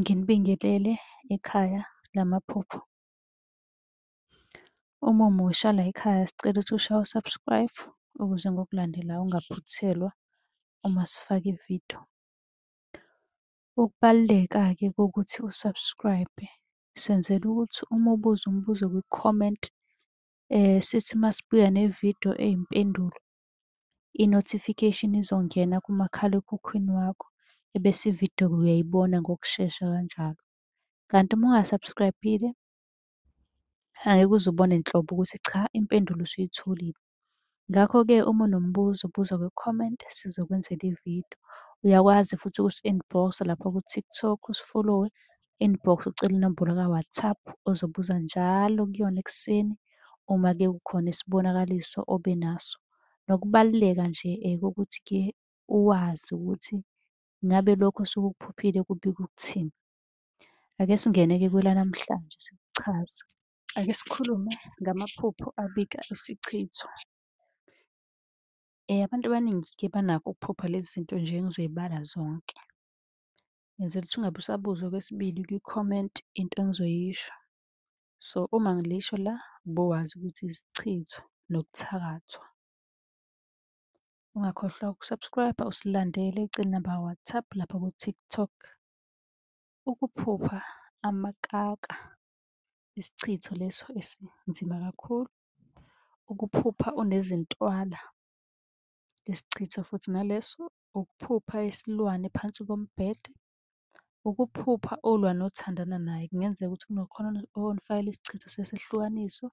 Nginibingelele ekhaya lamaphupho. Uma umusha layikhaya sicela ukuthi ushaye u-subscribe ukuze ngokulandelayo ungaphuthelwa uma sifaka ividiyo. Ukubaluleka-ke kokuthi u-subscribe senzela ukuthi uma ubuza umbuzo kwi-comment sithi masibuya nevidiyo eyimpendulo i-notification izongena kumakhalekhukhwini wakho ebese ividiyo uyayibona ngokushesha kanjalo. Kanti uma unga-subscribe-ile angeke uze ubone nhlobo ukuthi cha impendulo usuyitholile. Ngakho-ke uma unombuzo buza kwi-comment sizokwenzela ividiyo. Uyakwazi futhi ukusi-inbox-a lapha ku-TikTok usifolowe inbox ucele inombolo ka-WhatsApp ozobuza njalo kuyona ekuseni uma ke kukhona isibonakaliso obe naso. Nokubaluleka nje eh, kokuthi ke uwazi ukuthi ngabe lokho osuke ukuphuphile kubika ukuthini. Ake singene-ke kwelanamhlanje sikuchaze. Ake sikhulume ngamaphupho abika isichitho. Eh, abantu abaningi-ke banakho ukuphupha lezi zinto nje engizoy'bala zonke. ngenzela ukuthi ungabe usabuza okwesibili kwi-comment into engizoyisho. So uma ngilisho la bowazi ukuthi isichitho nokuthakathwa. Ungakhohlwa ukusubscribe usilandele ucele namba WhatsApp lapha ku-TikTok. Ukuphupha amakaka isichitho leso esinzima kakhulu. Ukuphupha unezintwala isichitho futhi naleso ukuphupha isilwane phansi kombhede, ukuphupha ulwa nothandana naye, kungenzeka ukuthi kunokhona onifakela isichitho sesehlukaniso,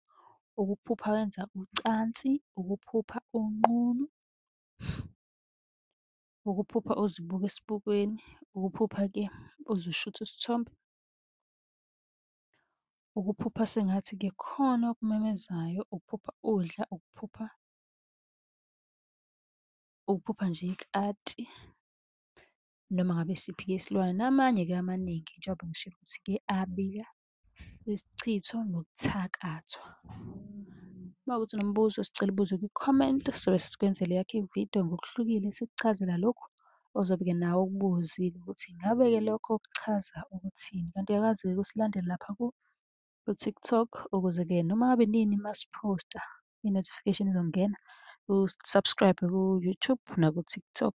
ukuphupha wenza ucansi, ukuphupha unqunu, ukuphupha uzibuka esibukweni, ukuphupha-ke uzishutha isithombe, ukuphupha sengathi kukhona okumemezayo, ukuphupha udla, ukuphupha. ukuphupha nje ikati noma ngabe isiphi-ke isilwane namanye-ke amaningi njengoba ngishilo ukuthi-ke abika isichitho nokuthakathwa. Uma kuwukuthi unombuzo sicela ubuze kwi-comment sobe sesikwenzela eyakho ividiyo ngokuhlukile sikuchazela lokhu ozobe-ke nawe ukubuzile ukuthi ingabe-ke lokho kuchaza ukuthini. Kanti uyakwazi-ke ukusilandela lapha ku-TikTok ukuze-ke noma ngabe nini masiphosta i-notification izongena. U-subscribe ku-YouTube naku-TikTok.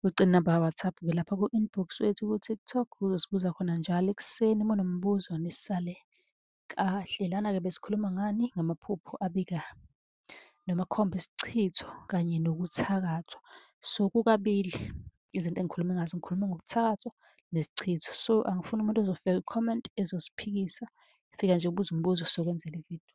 Ucele inamba ka-WhatsApp ke lapha ku-inbox wethu ku-TikTok uzosibuza khona njalo ekuseni uma unombuzo nisale kahle. Lana-ke besikhuluma ngani? Ngamaphupho abika noma akhomba isichitho kanye nokuthakathwa. So kukabili izinto engikhulume ngazo, ngikhulume ngokuthakathwa nesichitho. So angifuni umuntu ozofika kwi-comment ezosiphikisa, fika nje ubuze umbuzo sokwenzela ividiyo.